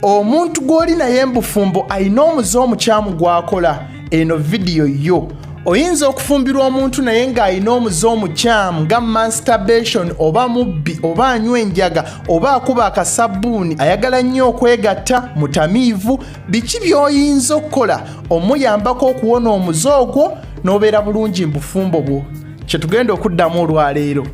omuntu gw'oli naye mbufumbo alina omuze omukyamu gwakola eno vidiyo yo oyinza okufumbirwa omuntu naye ng'alina omuze omukyamu nga manstabation oba mubbi oba anywa enjaga oba akuba akasabbuuni ayagala nnyo okwegatta mutamiivu biki by'oyinza okukola omuyambako okuwona omuze ogwo n'obeera bulungi mu bufumbo bwo kye tugenda okuddamu olwaleero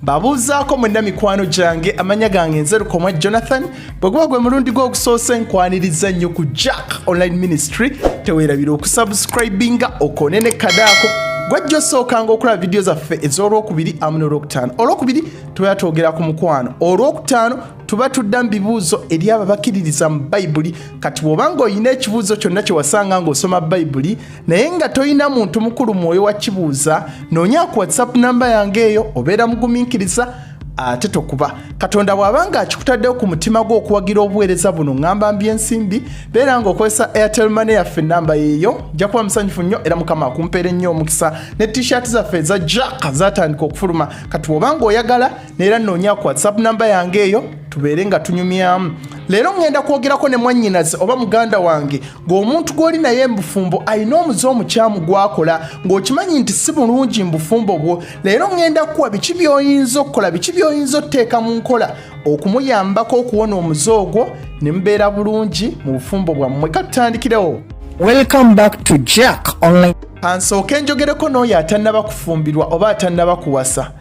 mbabuuzaako mwenna mikwano gyange amanya gange nze lukomwa jonathan bwe guba gwe mulundi gw'ogusoose nkwaniriza nnyo ku jack online ministry teweerabira okusubscribinga okone ne kadaako gwajja osookanga okulaba vidiyo zaffe ez'olwokubiri amu n'olwokutaano olwokubiri tubeera twogera ku mukwano olwokutaano tuba tudda mu bibuuzo eri abo bakiririza mu bayibuli kati bw'oba ng'olina ekibuuzo kyonna kye wasanga ng'osoma bayibuli naye nga tolina muntu mukulu mwoyo wa kibuuza noonya ku whatsapp namba yange eyo obeera mugumiikiriza ate tokuba katonda bw'aba nga akikutaddewo ku mutima gwo okuwagira obuweereza buno ŋŋamba mbi ensimbi beera nga okozesa airtel mane yaffe ennamba yeeyo nja kuba musanyufu nnyo era mukama akumpeere nnyo omukisa ne t-shirt zaffe eza jack zatandika okufuluma kati bw'oba nga oyagala neera nnoonya ku whatsapp namba yange eyo tubeere nga tunyumyamu leero ŋŋenda kwogerako ne mwannyinaze oba muganda wange ng'omuntu gw'oli naye embufumbo alina omuze omukyamu gw'akola ng'okimanyi nti si bulungi mu bufumbo bwo leero ŋŋenda kukuwa biki by'oyinza okukola biki by'oyinza okuteeka mu nkola okumuyambako okuwona omuze ogwo ne mubeera bulungi mu bufumbo bwammwe katutandikirewo welcome back to jack online kansooke njogereko n'oyo atannaba kufumbirwa oba atannaba kuwasa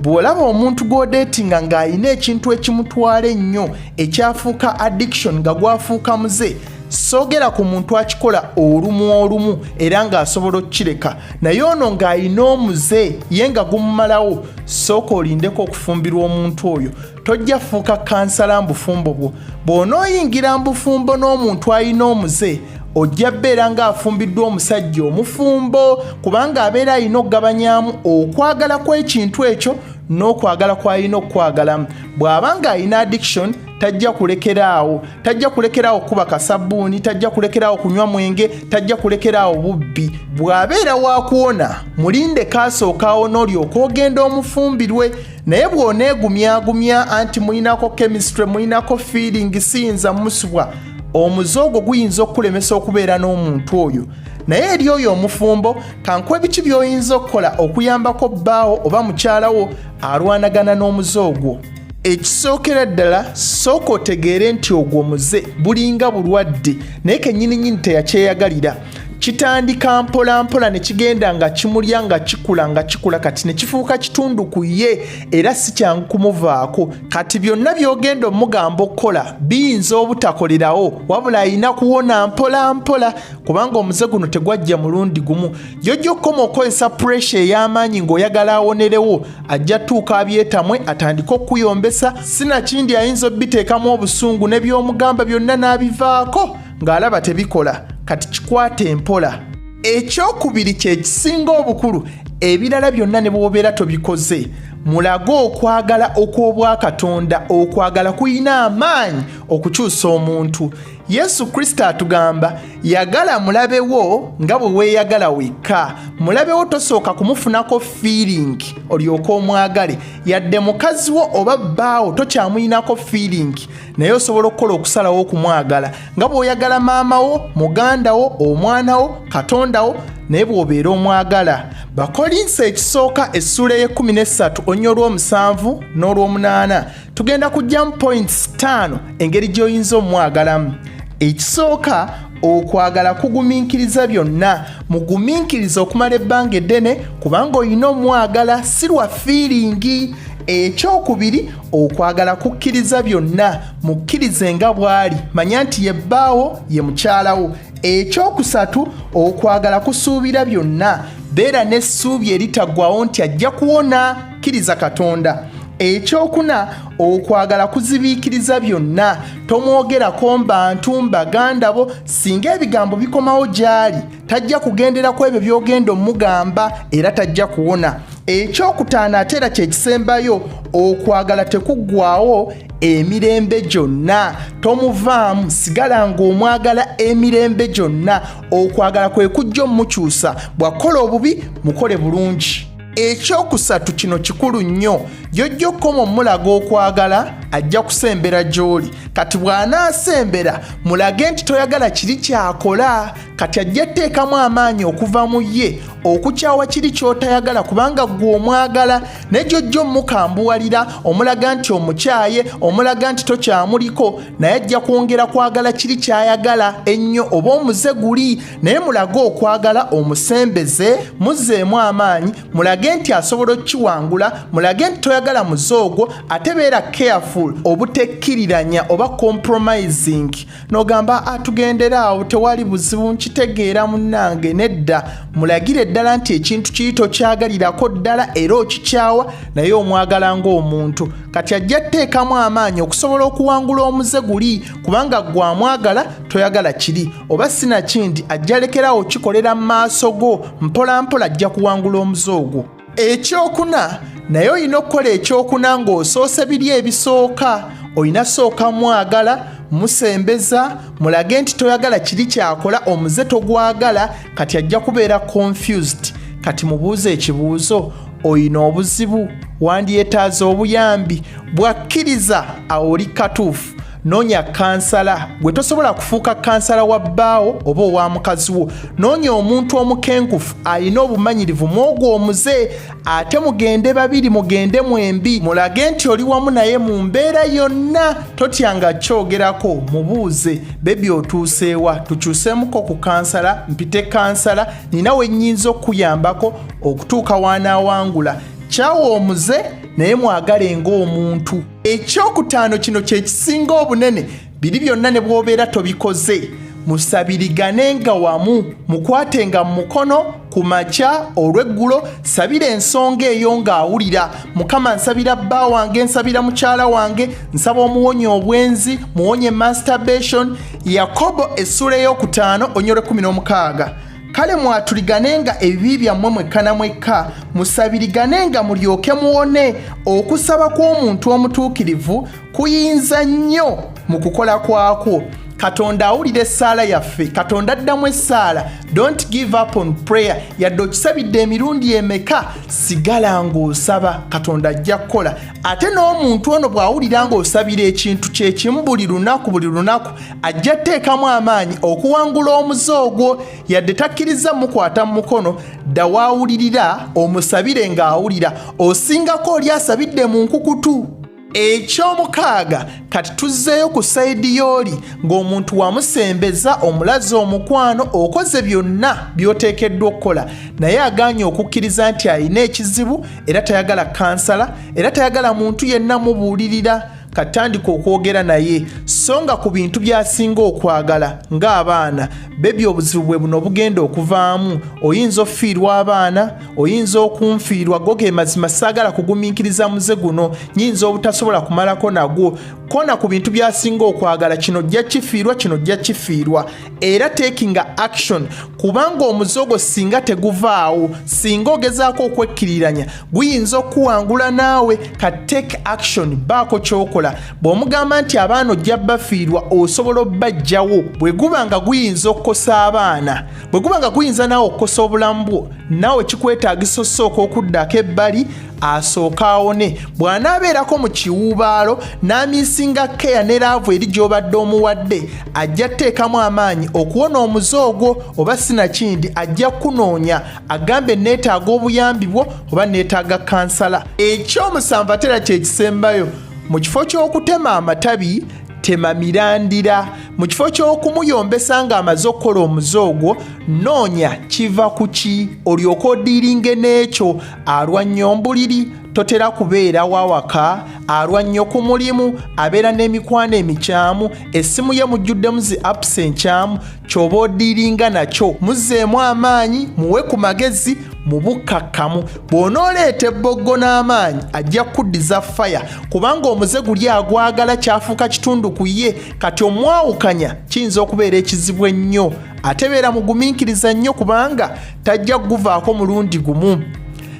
bw'olaba omuntu gw'odeetinga ng'alina ekintu ekimutwala ennyo ekyafuuka addiction nga gwafuuka muze soogera ku muntu akikola olumu olumu era ng'asobola okukireka naye ono ng'alina omuze ye nga gumumalawo sooka olindeko okufumbirwa omuntu oyo tojja fuuka kansala mbufumbo bwo bw'onooyingira mbufumbo n'omuntu alina omuze ojja beera ng'afumbiddwa omusajja omufumbo kubanga abeera alina okugabanyaamu okwagala kw'ekintu ekyo n'okwagala kw'alina okukwagalamu bw'aba ng'alina addiction tajja kulekeraawo tajja kulekeraawo kuba kasabbuuni tajja kulekeraawo kunywa mwenge tajja kulekeraawo bubbi bw'abeera wakuwona mulinde kaasookawo n'olyoka ogenda omufumbirwe naye bw'oneegumyagumya anti mulinako chemistry mulinako feeling siyinza musubwa omuze ogwo guyinza okukulemesa okubeera n'omuntu oyo naye eri oyo omufumbo kankuwa ebiki by'oyinza okukola okuyambako bbaawo oba mukyalawo alwanagana n'omuze ogwo ekisookera ddala sooka otegeere nti ogwo muze bulinga bulwadde naye kenyininyini teyakyeyagalira kitandika mpola mpola ne kigenda nga kimulya nga kikula nga kikula kati ne kifuuka kitundu ku ye era si kyangu kumuvaako kati byonna by'ogenda omugamba okukola biyinza obutakolerawo wabula alina kuwona mpola mpola kubanga omuze guno tegwajja mulundi gumu jojja okukoma okukozesa puresha ey'amaanyi ng'oyagala awonerewo ajja tuuka abyetamwe atandike okukuyombesa sinakindi ayinza obiteekamu obusungu ne by'omugamba byonna n'abivaako ng'alaba tebikola kati kikwata empola ekyokubiri kyekisinga obukulu ebirala byonna ne bwobeera tobikoze mulage okwagala okw'obwakatonda okwagala kulina amaanyi okukyusa omuntu yesu kristo atugamba yagala mulabewo nga bwe weeyagala wekka mulabewo tosooka kumufunako fiiringi olyoka omwagale yadde mukazi wo oba bbaawo tokyamuyinako fiiringi naye osobola okukola okusalawo okumwagala nga bw'oyagala maama wo muganda wo omwana wo katonda wo naye bw'obeera omwagala bakolinsa ekisooka essula ey'ekkumi n'essatu onnya olw'omusanvu n'olw'omunaana tugenda kujjamu points ttaano engeri gy'oyinza omwagalamu ekisooka okwagala kugumiikiriza byonna mugumiikiriza okumala ebbanga eddene kubanga olina omwagala si lwa fiiringi ekyokubiri okwagala kukkiriza byonna mukkirize nga bw'ali manya nti ye bbaawo ye mukyalawo ekyokusatu okwagala kusuubira byonna beera n'essuubi eritaggwawo nti ajja kuwona kkiriza katonda ekyokuna okwagala kuzibiikiriza byonna tomwogerako mbantu mbaganda bo singa ebigambo bikomawo gy'ali tajja kugendera ku ebyo by'ogenda omugamba era tajja kuwona ekyokutaano ate era kyekisembayo okwagala tekuggwawo emirembe gyonna tomuvaamu sigala ng'omwagala emirembe gyonna okwagala kwe kujja omukyusa bw'akola obubi mukole bulungi ekyokusatu kino kikulu nnyo gyojja okukoma omulaga okwagala ajja kusembera gy'oli kati bw'anaasembera mulage nti toyagala kiri kyakola kati ajja tteekamu amaanyi okuva mu ye okukyawa kiri ky'otayagala kubanga ggwe omwagala ne gyojja omukambuwalira omulaga nti omukyaye omulaga nti tokyamuliko naye ajja kwongera kwagala kiri ky'ayagala ennyo oba omuze guli naye mulage okwagala omusembeze muzzeemu amaanyi mulage nti asobola okukiwangula mulage nti toyagala muze ogwo ate beera careful obutekkiriranya oba compromising nogamba atugendera ah, awo tewali buzibu nkitegeera munange nedda mulagire ddala nti ekintu kiri tokyagalirako ddala era okikyawa naye omwagala ng'omuntu kati ajja tteekamu amaanyi okusobola okuwangula omuze guli kubanga gwamwagala toyagala kiri oba sinakindi ajja lekerawo kikolera mu maaso go mpolampola ajja kuwangula omuze ogwo ekyokuna naye olina okukola ekyokuna ng'osoose biri ebisooka olina sooka mwagala musembeza mulage nti toyagala kiri kyakola omuze togwagala kati ajja kubeera confused kati mubuuze ekibuuzo oyina obuzibu wandyetaaza obuyambi bwakkiriza awo oli katuufu noonya kansala gwe tosobola kufuuka kansala wa bbaawo oba owa mukazi wo noonya omuntu omukenkufu alina obumanyirivu mwogwo omuze ate mugende babiri mugende mwembi mulage nti oli wamu naye mu mbeera yonna totya nga kyogerako mubuuze bebi otuuseewa tukyuseemuko ku kansala mpite kansala nina wenyinza okukuyambako okutuuka wanaawangula kyawa omuze naye mwagale ng'omuntu ekyokutaano kino kye kisinga obunene biri byonna ne bw'obeera tobikoze musabiriganenga wamu mukwatenga mu mukono ku makya olw'eggulo sabira ensonga eyo ng'awulira mukama nsabira bba wange nsabira mukyala wange nsaba omuwonye obwenzi muwonye masturbation yakobo essula ey'okutaano onyole 16 kale mwaturiganenga ebibi byammwe mwekka na mwekka musabiriganenga mulyoke muwone okusaba kw'omuntu omutuukirivu kuyinza nnyo mu kukola kwakwo katonda awulira essaala yaffe katonda addamu essaala don't give up on prayer yadde okisabidde emirundi emeka sigala ng'osaba katonda ajja kukola ate n'omuntu ono bw'awulira ng'osabira ekintu kyekimu buli lunaku buli lunaku ajja teekamu amaanyi okuwangula omuze ogwo yadde takkirizza mukwata mu mukono dda waawulirira omusabire ng'awulira osingako oli asabidde mu nkukutu ekyomukaaga kati tuzzeeyo ku sayidi yooli ng'omuntu wamusembeza omulazi omukwano okoze byonna by'oteekeddwa okukola naye agaanye okukkiriza nti alina ekizibu era tayagala kansala era tayagala muntu yenna mubuulirira katandika okwogera naye so nga ku bintu byasinga okwagala ng'abaana bebi obuzibu bwe buno obugenda okuvaamu oyinza okufiirwa abaana oyinza okunfiirwa go ge mazima saagala kugumiikiriza muze guno nyinza obutasobola kumalako nagwo kona ku bintu byasinga okwagala kino jja kifiirwa kino jja kifiirwa era takinga action kubanga omuze ogwo singa teguvaawo singa ogezaako okwekkiriranya guyinza okuwangula naawe ka take action baako kyokola bw'omugamba nti abaana ojja bafiirwa osobola obbajjawo bwe guba nga guyinza okukosa abaana bwe guba nga guyinza naawe okukosa obulamu bwo naawe kikwetaagisa osooka okuddako ebbali asooke awone bw'anaabeerako mu kiwuubaalo n'amiisinga keya ne laavu eri gy'obadde omuwadde ajja tteekamu amaanyi okuwona omuze ogwo oba sinakindi ajja kukunoonya agambe neetaaga obuyambi bwo oba neetaaga kansala ekyomusanvu atera kyekisembayo mu kifo ky'okutema amatabi tema mirandira mu kifo ky'okumuyombesa ng'amaze okukola omuze ogwo noonya kiva ku ki olyoka odiiringe n'ekyo alwa nnyo mbuliri totera kubeera wawaka alwa nnyo ku mulimu abeera n'emikwano emikyamu essimu ye mujjuddemu zi apps enkyamu kyoba odiringa nakyo muzeemu amaanyi muwe ku magezi mu bukkakkamu bw'onooleeta ebboggo n'amaanyi ajja kuddiza faya kubanga omuze guli agwagala kyafuuka kitundu ku ye kati omwawukanya kiyinza okubeera ekizibu ennyo atebeera mugumiikiriza nnyo kubanga tajja kuguvaako mulundi gumu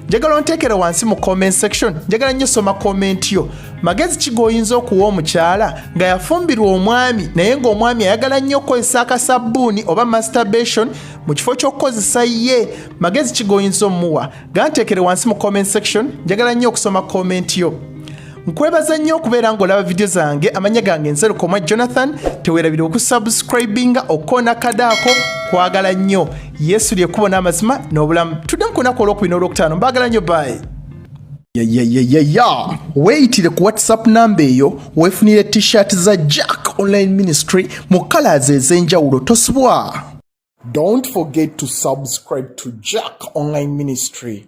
njagala onteekere wansi mu comment section njagala nnyo soma comment yo magezi ki g'oyinza okuwa omukyala nga yafumbirwa omwami naye ng'omwami ayagala nnyo okukozesa akasabbuuni oba masturbation mu kifo ky'okukozesa ye magezi ki g'oyinza omuwa ganteekere wansi mu comment section njagala nnyo okusoma comment yo nkwebaza nnyo okubeera ng'olaba vidiyo zange amanya gange nzerukomwa jonathan tewerabira okusubscribinga okona kadaako kwagala nnyo yesu lyekkubo n'amazima n'obulamu tudde mu kunaku olwokubina olwokutaano mbaagala nnyo bayi yayayayaya weeyitire ku whatsapp namba eyo weefunire t-shirt za jack online ministry mu kalaazi ez'enjawulo tosubwa don't forget to subscribe to jack online ministry